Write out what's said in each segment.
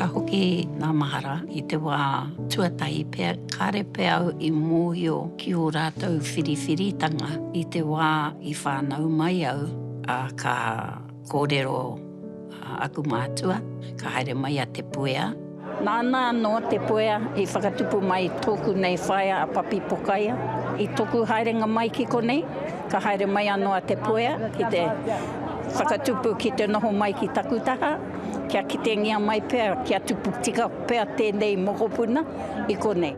Ka hoki ngā mahara i te wā tuatahi pea, kāre pea au i mōhio ki ō rātou whiriwhiritanga i te wā i whānau mai au, ā, ka kōrero aku mātua, ka haere mai a Te Puea. Nāna anō te puea i whakatupu mai tōku nei whaea a Papi Pokaia. I tōku haerenga mai ki konei, ka haere mai anō a Te Puea ki te whakatupu ki te noho mai ki taku taha, kia kitengia mai pea, kia tupu tika pea tēnei mokopuna i konei.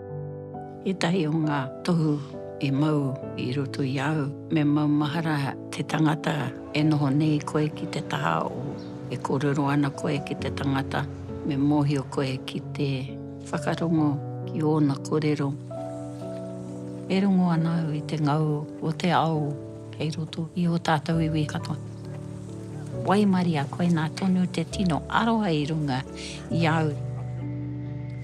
Ētahi o ngā tohu i mau i roto i a au, me maumahara te tangata. E noho nei koe ki te taha o. E kōrero ana koe ki te tangata, me mōhio koe ki te. Whakarongo ki ōna kōrero. E rongo ana au i te ngau o te ao kei roto i ō tātou iwi katoa. Waimaria koinā tonu te tino aroha i runga i a au.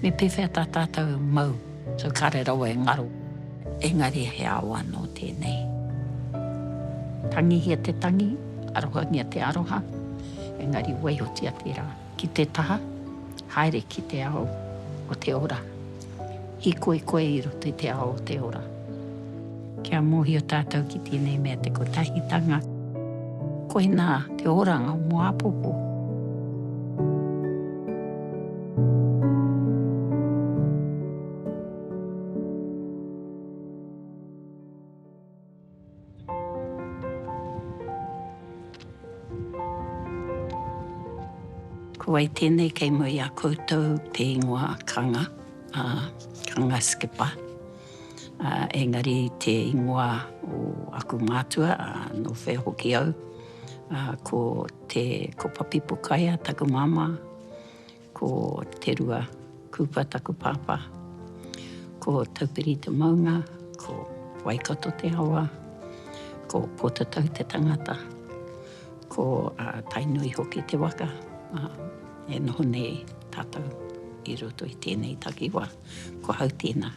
Me pēwhea tā tātou mau? So kare rawa e ngaro. Engari he ao ano tenei. Tangihia te tangi, arohangia te aroha, engari waihotia tera ki te taha, haere ki te ao o te ora. Hikoi koe i roto i te ao o te ora. Kia mōhio tātou ki tēnei mea te kotahitanga, koinā te oranga o mō āpōpō. Ko wai tēnei kei mua i a koutou te ingoa kanga, a, kanga skipper. engari te ingoa o aku mātua, nō whea hoki au, ko te, ko Papipukaea taku māmā, ko Te Rua Kupa taku pāpā, ko Taupiri te maunga, ko Waikato te awa, ko Pōtatau te tangata, ko Tainui hoki te waka, e noho nei tātou i roto i tēnei takiwā. Ko au tēnā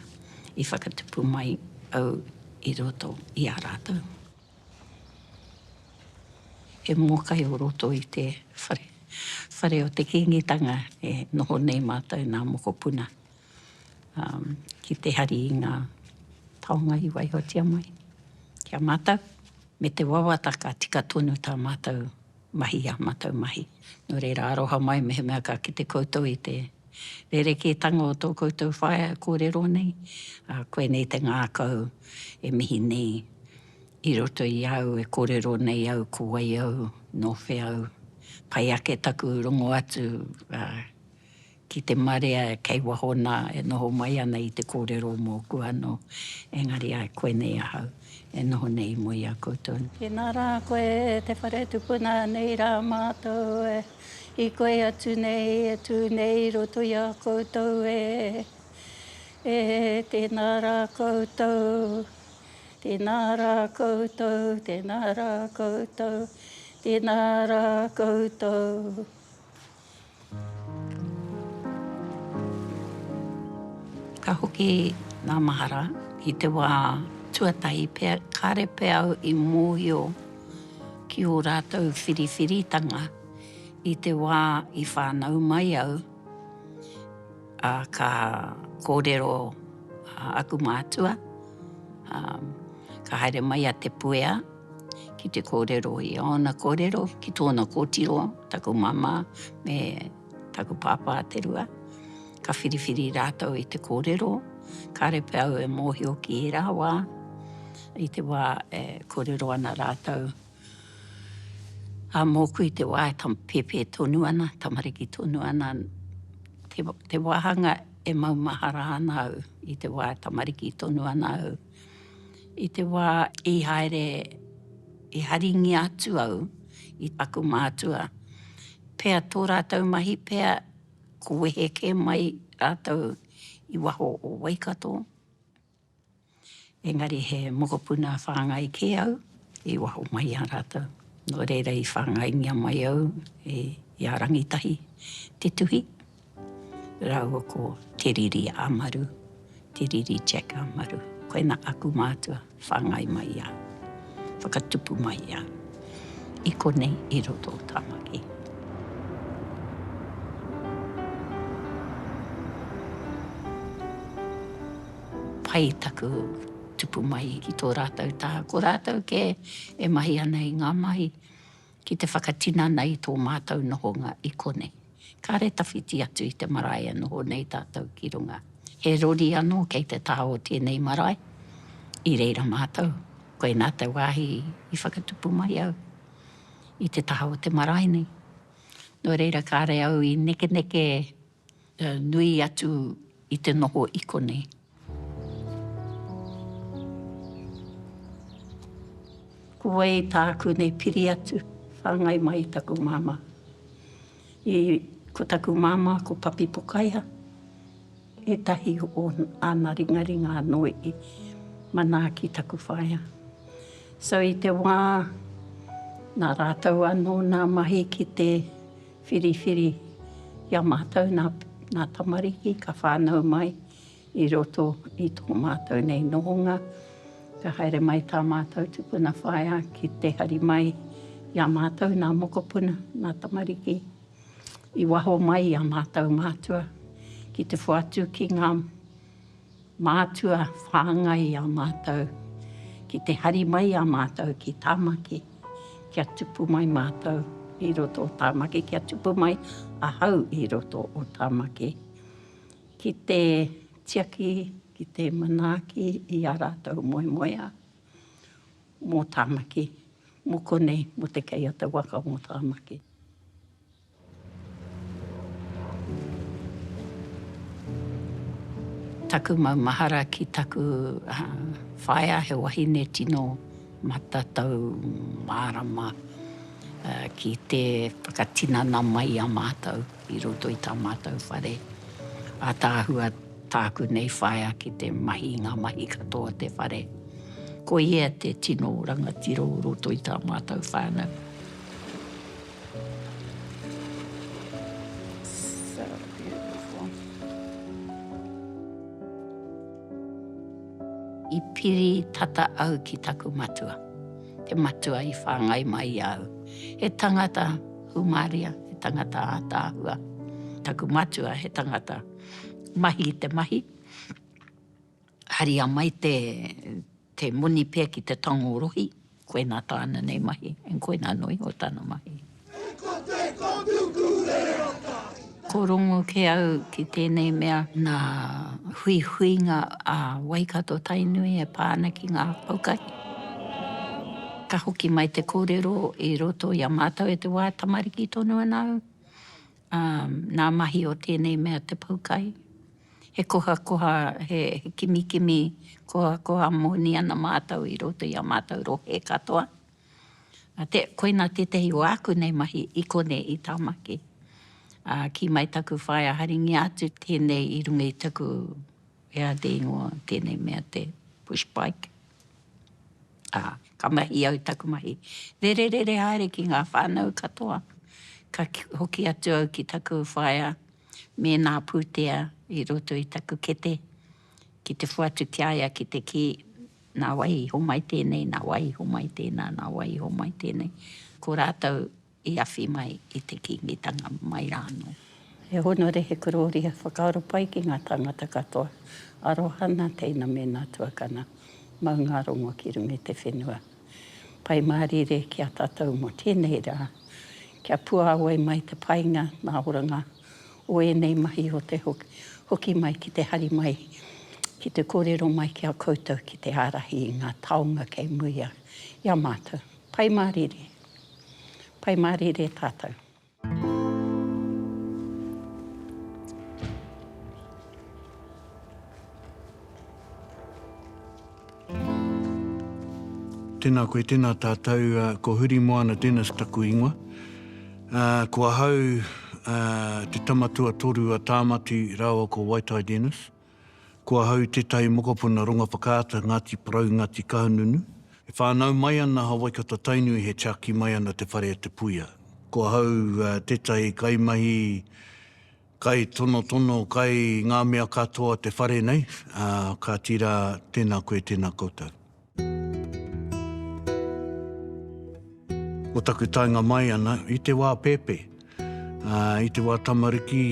i whakatupu mai au i roto i a rātou. He mōkai o roto i te whare, whare o te Kīngitanga e noho nei mātou nā mokopuna ki te hari i ngā taonga i waihotia mai ki a mātou. Me te wawata ka tika tonu tā mātou mahi i ā mātou mahi. Nō reira, aroha mai mehemea ka kite koutou i te rerekētanga o tō koutou whaea e kōrero nei, ā, koinei te ngākau e mihi nei i roto i a au e kōrero nei au ko wai au, nō whea au, pai ake taku rongo atu, ā, ki te marea kei waho nā e noho mai ana i te kōrero mōku anō, engari ai koinei ahau e noho nei i mua i a koutou nei. Tēnā rā koe e te whare tupuna nei rā mātou e, i koe atu nei e tū nei i roto i a koutou e, e tēnā rā koutou, tēnā rā koutou, tēnā rā koutou, tēnā rā koutou. Ka hoki ngā mahara i te wā tuatahi pea, kāre pea au i mōhio ki ō rātou whiriwhiritanga i te wā i whānau mai au, ā, ka kōrero aku mātua, ā, ka haere mai a Te Puea. ki te kōrero i ōna kōrero, ki tōna kōtiro, taku māmā me taku pāpā te rua. Ka whiriwhiri rātou i te kōrero, kāre pea au e mōhio ki ērā wā, i te wā e kōrero ana rātou, ā, mōku i te wā e tam, pēpē tonu ana, tamariki tonu ana, te, te wāhanga e maumahara ana au i te wā e tamariki tonu ana au. I te wā i haere, i haringia atu au i taku mātua, pea tō rātou mahi pea ko wehe kē mai rātou i waho o Waikato, engari he mokopuna whāngai kē au i waho mai i a rātou. Nō reira i whāngaingia mai au i a Rangitahi te tuhi, Rāua ko Te Riri Amaru, Te Riri Jack Amaru. Koina aku mātua, whāngai mai i a, whakatupu mai i a, i konei i roto o Tāmaki. Pai taku tupu mai ki tō rātou taha. Ko rātou kē e mahi ana i ngā mahi. ki te whakatinana i tō mātou nohonga i konei. Kāre tawhiti atu i te marae e noho nei tātou ki runga. He rori anō kei te taha o tēnei marae, i reira mātou. Koinā te wāhi i whakatupu mai au i te taha o te marae nei. Nō reira kāre au i nekeneke. nui atu i te noho i konei. Ko wai tāku nei piri atu, whāngai mai i taku māmā. I, ko taku māmā ko Papi Pokaia, ētahi o āna ringaringa anō i manaaki taku whaea. So i te wā, nā rātou anō nā mahi ki te. Whiriwhiri i a mātou nā tamariki ka whānau mai i roto i tō mātou nei nohonga. Ka haere mai tā mātou tupuna whaea ki te hari mai i a mātou nā mokopuna, nā tamariki. I waho mai i a mātou mātua ki te whoatu ki ngā. Mātua whāngai a mātou ki te hari mai a mātou ki Tāmaki kia tupu mai mātou i roto o Tāmaki, kia tupu mai ahau i roto o Tāmaki, ki te tiaki, ki te manaaki i ā rātou moemoeā mō Tāmaki, mō konei, mō te kei a te waka mō Tāmaki. Taku maumahara ki taku whaea he wahine tino matatau mārama ki te whakatinana mai i a mātou i roto i tā mātou whare. Ataahua tāku nei whaea ki te mahi i ngā mahi katoa o te whare. Ko ia te tino rangatira o roto i tā mātou whānau. I piri tata au ki taku matua, te matua i whāngai mai i a au. He tangata hūmāria, he tangata ātaahua. Taku matua he tangata mahi i te mahi. Haria mai te te moni pea ki te tango rohi, koinā tāna nei mahi, and koinā noa iho tana mahi. He kote ko tuku reo Tahi. Ko rongo ke au ki tēnei mea nā huihuinga a Waikato Tainui e pā ana ki ngā aukahi. Ka hoki mai te kōrero i roto i a mātou e te wā tamariki tonu ana au, Ā, nā mahi o tēnei mea te poukai, he kohakoha, he kimikimi kohakoha moni ana mātou i roto i ā mātou rohe katoa. Ā, te, koinā tētahi o āku nei mahi i konei i Tāmaki. Ā, kī mai taku whaea haringia atu tēnei i runga i taku, e ā te ingoa tēnei mea te pushbike. Ā, ka mahi au taku mahi rererere haere ki ngā whānau katoa. Ka hoki atu au ki taku whaea me nā pūtea i roto i taku kete, ki te whatu ki a ia ki te kī, Nā wai i homai tēnei, nā wai i homai tēnā, nā wai i homai tēnei? Ko rātou I awhi mai i te Kīngitanga mai rānō. E hōna re he korōria whakaaro pai ki ngā tāngata katoa. Aroha nā teina me nā tuakana. Mau ngā rongo ki runga i te whenua. Pai mārire ki a tātou mō tēnei rā. Kia puāwai mai te painga nā oranga o ēnei mahi o te hoki mai ki te hari mai ki te kōrero mai ki a koutou ki te ārahi i ngā taonga kei muia i a mātou. Pai mārire. Pai mārire tātou. Tēnā koe, tēnā tātou, ko Huri Moana Dennis taku ingoa. Uh, ko ahau uh, te tama tuatoru a Tāmati rāua ko Waitai Dennis. Ko ahau tētahi mokopuna ronga whakaata Ngāti Porou, Ngāti Kahungunu. E whānau mai ana a Waikato-Tainui he tiaki mai ana te whare a Te Puia. Ko ahau tētahi kaimahi, kai tonotono, kai ngā mea katoa te whare nei, ā, kāti rā, tēnā koe, tēnā koutou. Ko taku taenga mai ana, i te wā pēpē, i te wā tamariki,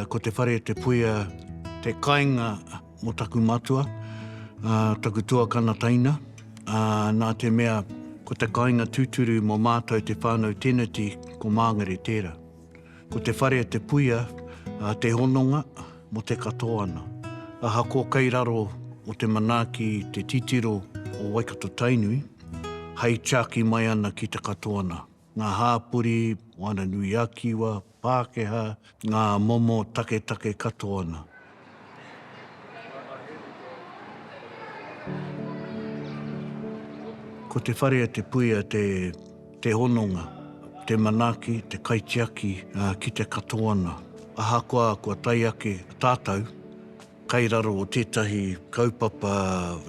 ko te whare te puea, te kainga mo taku matua, taku tuakana taina, nā te mea ko te kainga tūturu mo mātou te whānau teneti, ko Māngere tēra. Ko te whare te puia a te hononga mo te katoa na. Ahakoa kei raro o te manaaki te titiro o Waikato Tainui, hai tiaki mai ana ki te katoa na, nga hapori, Moananui-a-Kiwa, Pakeha, nga momo taketake katoa na. Ko te whare a Te Puia te hononga, te manaaki, te kaitiaki ki te katoana. Ahakoa kua tae ake tātou kai raro o tētahi kaupapa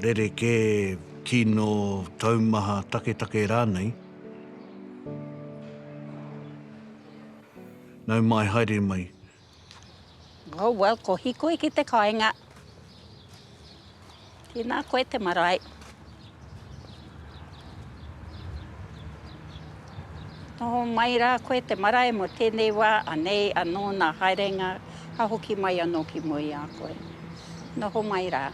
rerekē, kino, taumaha, taketake rānei, nau mai, haere mai. Oh well, ko Hikoi ki te kainga. Tēnā koe te marae. Noho mai rā koe te marae mo tēnei wā, anei, anō nā haerenga, ka hoki mai anō ki mua i a koe. Noho mai rā.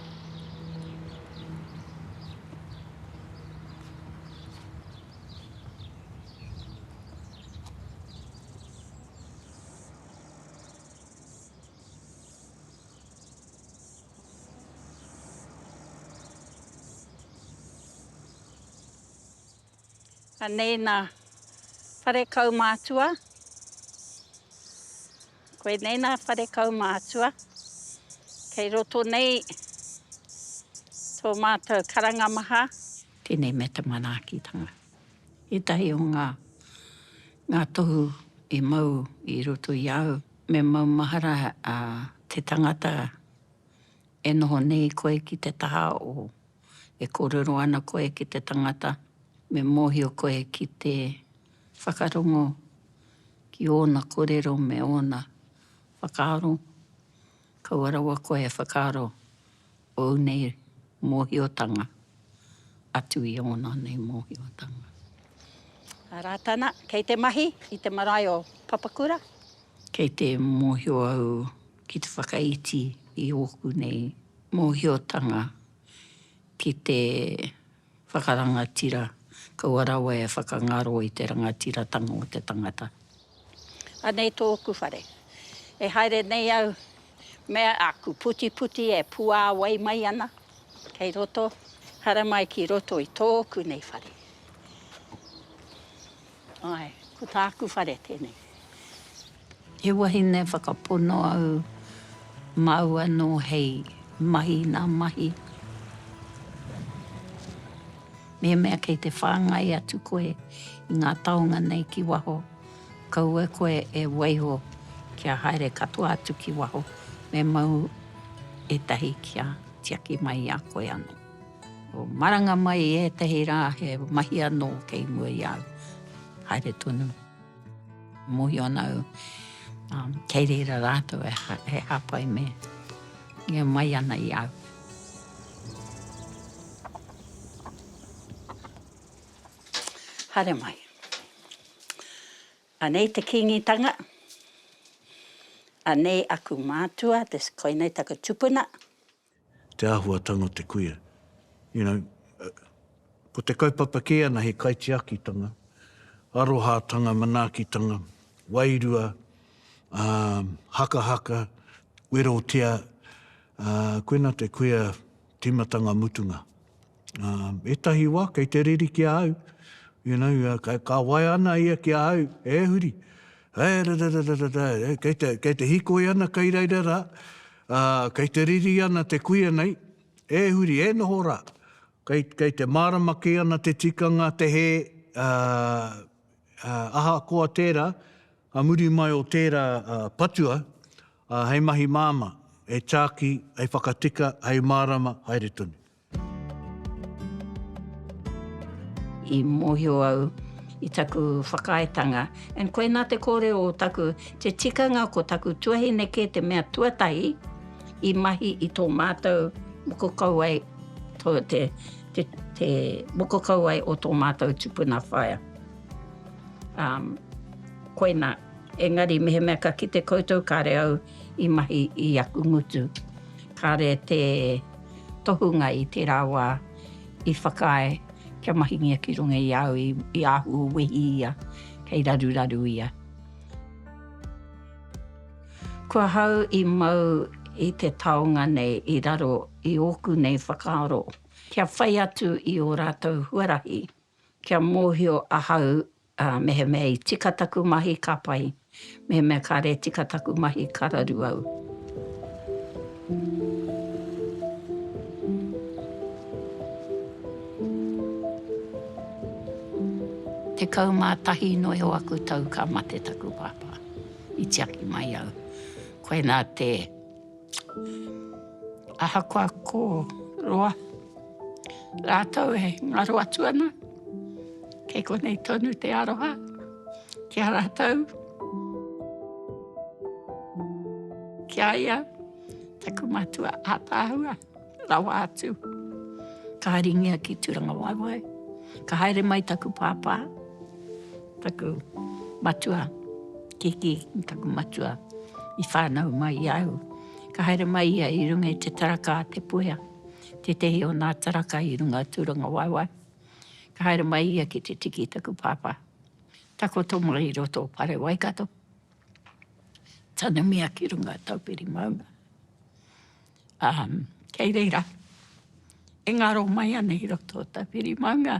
Anei nā whare kaumātua. Koinei nā whare kaumātua. Kei roto nei tō mātou karanga maha. Tēnei mea te manaakitanga. Ētahi o ngā, ngā tohu i mau i roto i a au, me maumahara a te tangata e noho nei koe ki te taha o, e kōrero ana koe ki te tangata, me mōhio koe ki te whakarongo ki ōna kōrero me ōna whakaaro. Kaua rawa koe e whakaaro ōu nei mōhiotanga atu i ōna nei mōhiotanga. A Rātana, Kei te mahi i te marae o Papakura? Kei te mōhio au ki te whakaiti i ōku nei mōhiotanga ki te Whakarangatira, kaua rawa e whakangaro i te rangatiratanga o te tangata. Anei tōku whare. E haere nei au me aku putiputi e puāwai mai ana kei roto, haramai ki roto i tōku nei whare. Ae, ko tāku whare tēnei. He wahine whakapono au, māu anō hei mahi i nā mahi. Mehemea kei te whāngai atu koe i ngā taonga nei ki waho, kaua koe e waiho kia haere katoa atu ki waho, me mau ētahi kia tiaki mai i a koe anō. Maranga mai i ētahi rā he mahi anō kei mua i a au. Haere tonu. Mōhio ana au, kei reira rātou e hāpai me ingo mai ana i a au. Haere mai. Anei te Kīngitanga, anei aku mātua, koinei taku tupuna. te āhuatanga o te kuia. You know, ko te kaupapa kē ana he kaitiakitanga, arohātanga, manaakitanga, wairua, hakahaka, werotia, koina te kuia tīmatanga mutunga. ētahi wā kei te riri ki a au, you know, ka waea ana ia ki a au, e huri, eh, rararararara, eh, kei te, kei te hikoi ana kei reira rā, ā, kei te riri ana te kuia nei, e huri, e noho rā, kei, kei te mārama kē ana te tikanga, te hē, ā, ā, ahakoa tērā, ka muri mai o tērā patua, ā, hei mahi māmā, hei tāki, hei whakatika, hei mārama, haere tonu. I mōhio au i taku whakaaetanga, and koinā te kōrero o taku, te tikanga ko taku tuahine kē te mea tuatahi i mahi i tō mātou moko kauae, tō te, te, te moko kauae o tō mātou tupuna whaea. Um, koinā. Engari mehemea ka kite koutou, kāre au. i mahi i aku ngutu. Kāre te tohunga i tērā wā i whakaae kia mahingia ki runga i a au i āhua wehi ia, kei raruraru ia. Ko ahau i mau i te taonga nei i raro i ōku nei whakaaro, kia whai atu i ō rātou huarahi, kia mōhio ahau Ā, mehemea i tika taku mahi ka pai, mehemea kāre tika taku mahi ka raru au. Tekau mā tahi noa iho aku tau ka mate taku pāpā, i tiaki mai au. Koinā te. Ahakoa ko roa rātou e ngaro atu ana, kei konei tonu te aroha ki a rātou. Ki a ia, taku matua ātaahua. Rawa atu, ka haringia ki Turangawaewae, ka haere mai taku pāpā, taku matua, kiki i taku matua, i whānau mai i a au. Ka haere mai ia i runga i te taraka a Te Puea, tētehi o nā taraka i runga o Turangawaewae. Ka haere mai ia ki te tiki i taku pāpā. Takoto mai i roto o Pare Waikato, tanumia ki runga o Taupiri Maunga. Ā, kei reira, e ngaro mai ana i roto o tā whiri maunga.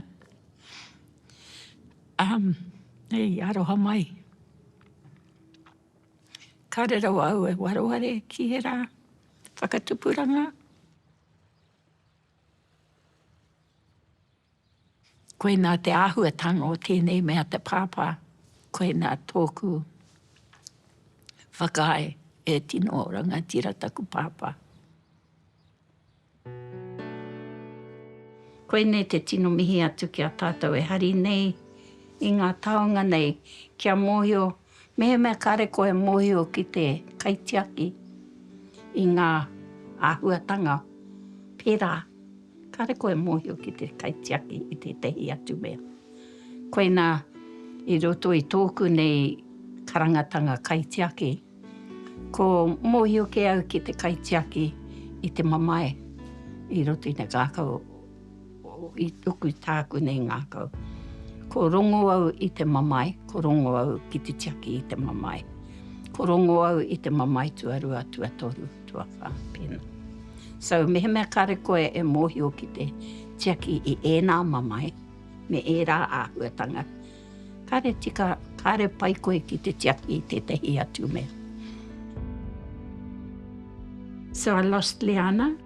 Ā, e i aroha mai. Kāre rawa au e wareware ki ērā whakatupuranga. Koinā te āhuatanga o tēnei mea te pāpā, koinā tōku whakaae e tino rangatira taku pāpā. Koinei te tino mihi atu ki a tātou e hari nei i ngā taonga nei kia mōhio Mehemea kāre koe e mōhio ki te kaitiaki i ngā āhuatanga pērā, kāre koe e mōhio ki te kaitiaki i tētehi atu mea. Koinā i roto i tōku nei karangatanga kaitiaki, ko mōhio kē au ki te kaitiaki i te mamae i roto i te ngākau. I tuku tākune ngākau. Ko rongo au i te mamae, ko rongo au ki te tiaki i te mamae. Ko rongo au i te mamae tuarua, tuatoru, tuawha, pēnā. So, mehemea kāre koe e mōhio ki te tiaki i ēnā mamae, me ērā āhuatanga, kāre tika, kāre pai koe ki te tiaki i tētahi atu mea. So, I lost Leanna.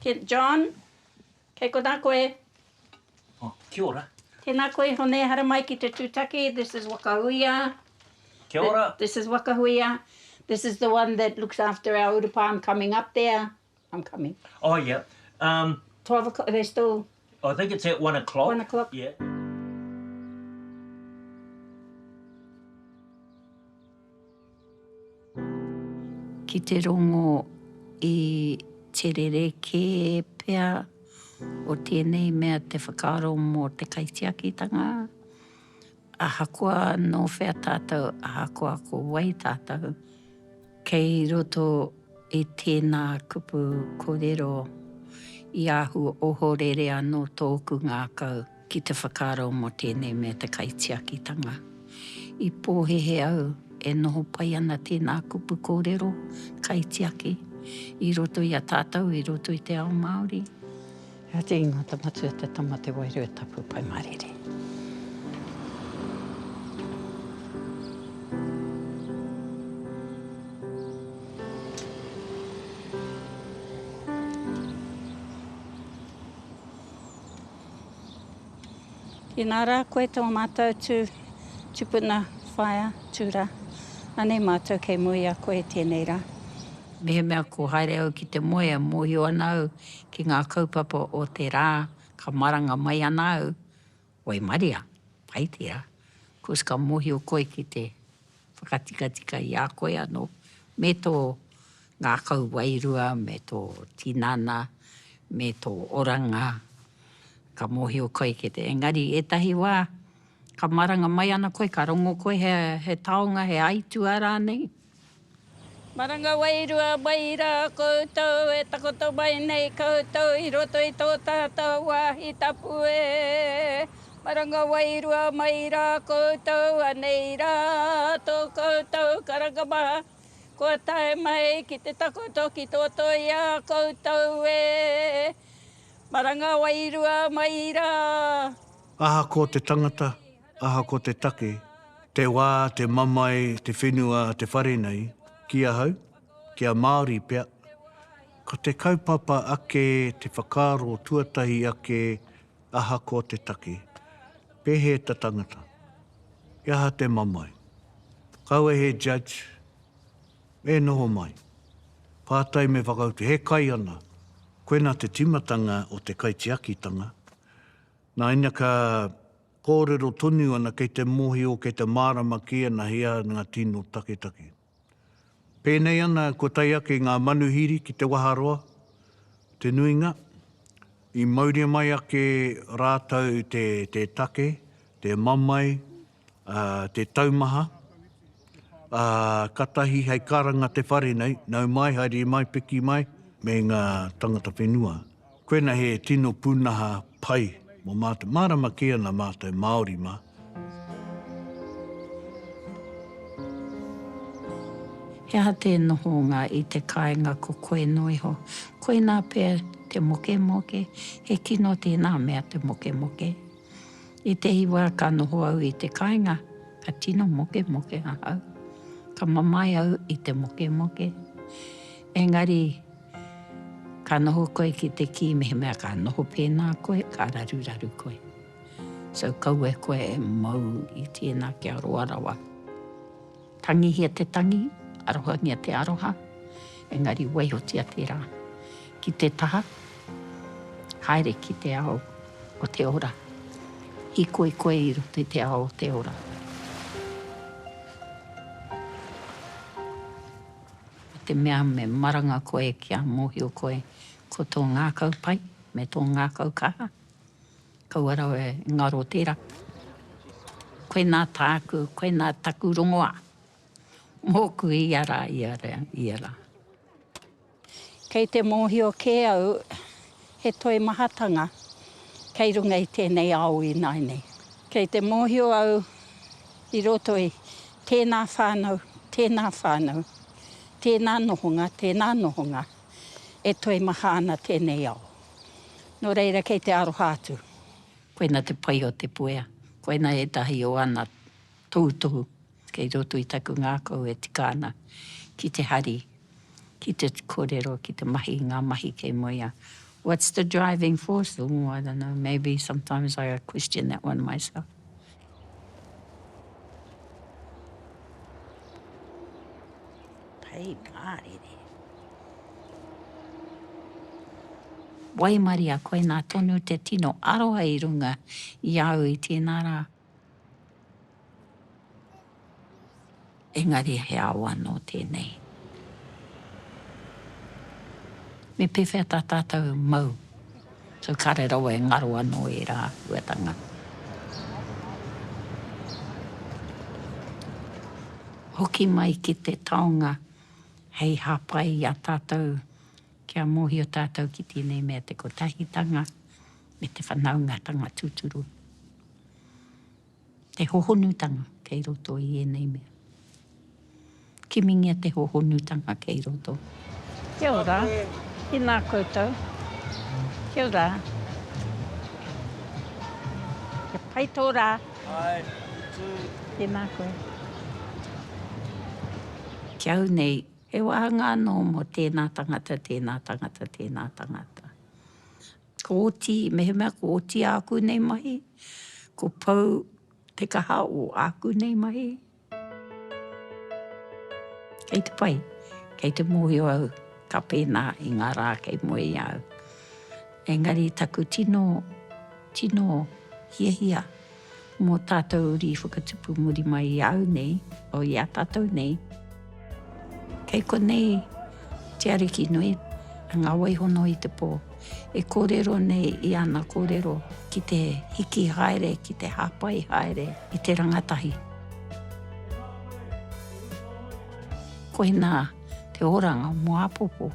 Te John, kei konā koe. Oh, kia ora. Tēnā koe Hone, haere mai ki te tūtaki, this is Wakahuia. Kia ora. This is Wakahuia. This is the one that looks after our urupā, I'm coming up there, I'm coming. Oh, yeah. Um. Twelve o'clock, are they still? I think it's at one o'clock. One o'clock. Yeah. Ki te rongo i te rerekē pea o tēnei mea te whakaaro mō te kaitiakitanga, Ahakoa nō whea tātou, ahakoa ko wai tātou, kei roto i tēnā kupu kōrero i ahu ohorere anō tōku ngākau ki te whakaaro mō tēnei mea te kaitiakitanga. I pōhehe au e noho pai ana tēnā kupu kōrero, kaitiaki, i roto i a tātou, i roto i te ao Māori. He aha te ingoa ta Matua te Tama te Wairua Tapu Pai Marere. Tēnā rā koe tō mātou tū tupuna whaea tū rā. Anei mātou kei moe i a koe tēnei rā. Mehemea ko haere au ki te moea, mōhio ana au ki ngā kaupapa o te rā ka maranga mai ana au, waimaria, pai tērā, kois ka mōhio koe ki te whakatikatika i a koe anō me tō ngākau wairua me tō tinana me tō oranga, ka mōhio koe ki te, engari ētahi wā ka maranga mai ana koe ka rongo koe he taonga, he aituā rānei. Maranga wairua mai rā koutou e takoto mai nei koutou i roto i tō tātou wāhi tapu e. Maranga wairua mai rā koutou anei rā tō koutou karanga maha kua tae mai ki te takoto ki tō toia koutou e. Maranga wairua mai rā. Ahakoa te tangata, Ahakoa te take, te wā, te mamae, te whenua a te whare nei, ki ahau, ki a Māori pea, ko te kaupapa ake, te whakaaro tuatahi ake, ahakoa te take, pēhea ta tangata, he aha te mamae. Kaua he judge, e noho mai, pātai me whakautu, he kai ana, koina te timatanga o te kaitiakitanga, nā ina ka. Kōrero tonu ana kei te mōhio, kei te mārama ki ana he aha ngā tino taketake. Pēnei ana kua tae ake ngā manuhiri ki te waharoa, te nuinga, i mauria mai ake rātou te te take, te mamae, te taumaha, ā, ka tahi hei karanga te whare nei, nau mai, haere mai, piki mai, me ngā tangata whenua Koina he tino punaha pai mo matou. Marama kē ana matou Maori ma. He aha te nohonga i te kainga ko koe no iho? Koina pea te mokemoke, he kino tēnā mea te mokemoke. I te iwa ka noho au i te kainga, ka tino mokemoke ahau. Ka mamae au i te mokemoke. Engari Ka noho koe ki te kī mehemea ka noho pēnā koe, ka raruraru koe. So kaua e koe e mau i tēnā kia roa rawa. Tangihia te tangi, arohangia te aroha, engari waihotia tērā ki te taha, haere ki te ao o te ora. Hīkoi koe i roto i te ao o te ora. I te mea me maranga koe kia mōhio koe ko tō ngākau pai me tō ngākau kaha, kaua rawa e ngaro tērā. Koe nā tāku, koe nā taku rongoā, mōku ia rā, ia rā, ia rā. Kei te mōhio kē au he toimahatanga kei runga i tēnei ao ināianei. Kei te mōhio au i roto i. Tēnā whānau, tēnā whānau, tēnā nohonga, tēnā nohonga, e toe maha ana tēnei ao. Nō reira kei te aroha atu. Koina te pai o te puea. Koina ētahi o ana tohutohu kei roto i taku ngākau e tika ana ki te hari. ki te korero, ki te mahi i nga mahi kei mua ia. What's the driving force? Oh, I don't know, maybe sometimes I question that one myself. Pei mārire. Waimaria, koinā tonu te tino aroha i runga i a au i tēnā rā. Engari he ao anō tēnei. Me pēwhea tā tātou e mau? So kāre rawa e ngaro anō ērā āhuatanga. Hoki mai ki te taonga hei hāpai i a tātou kia mōhio tātou ki tēnei mea te kotahitanga, me te whanaungatanga tūturu, te hohonutanga kei roto i ēnei mea. Kimingia te hohonutanga kei roto. Kia ora, tēnā koutou. Kia ora. Kia pai tō rā. Hai, you too. Tēnā koe. Ki au nei, he wāhanga anō mō tēnā tangata, tēnā tangata, tēnā tangata. Ko oti, mehemea ko oti āku nei mahi, ko pau te kaha o āku nei mahi. Kei te pai, kei te mōhio au, ka pēnā i ngā rā kei mua i a au. Engari taku tino, tino hiahia. Mō tātou uri whakatupu muri mai i a au nei, o i a tātou nei, kei konei te Ariki nui, ngā waihono i te pō, e kōrero nei i ana kōrero ki te hiki haere, ki te hāpai haere i te rangatahi. Koinā te oranga o mō āpōpō.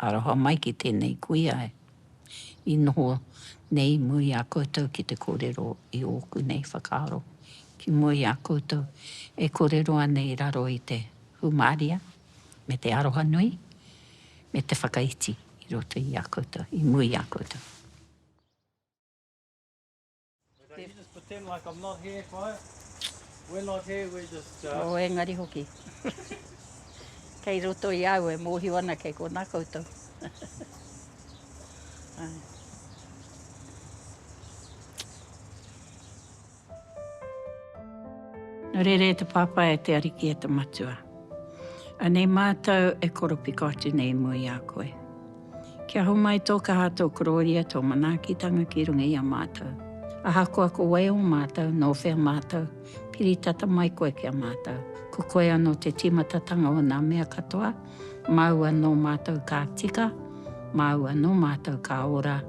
Aroha mai ki tēnei kuia i noho nei mua i a koutou ki te kōrero i ōku nei whakaaro ki mua i a koutou e kōrero ana i raro i te hūmāria me te aroha nui me te whakaiti i roto i a koutou, i mua i a koutou. Oh, engari hoki. Kei roto i au e mōhio ana kei konā koutou. Nō reira e te Pāpā, e te Ariki, e te Matua, anei mātou e koropiko atu nei mua i a koe. Kia homai tō kaha, tō korōria, tō manaakitanga ki runga i a mātou. Ahakoa ko wai ō mātou, nō whea mātou, piri tata mai koe ki a mātou. Ko koe anō te tīmatatanga o nā mea katoa, māu anō mātou ka tika, māu anō mātou ka ora,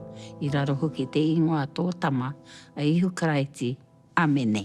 i raro hoki te ingoa tō Tama, a Ihu Karaiti. Āmene.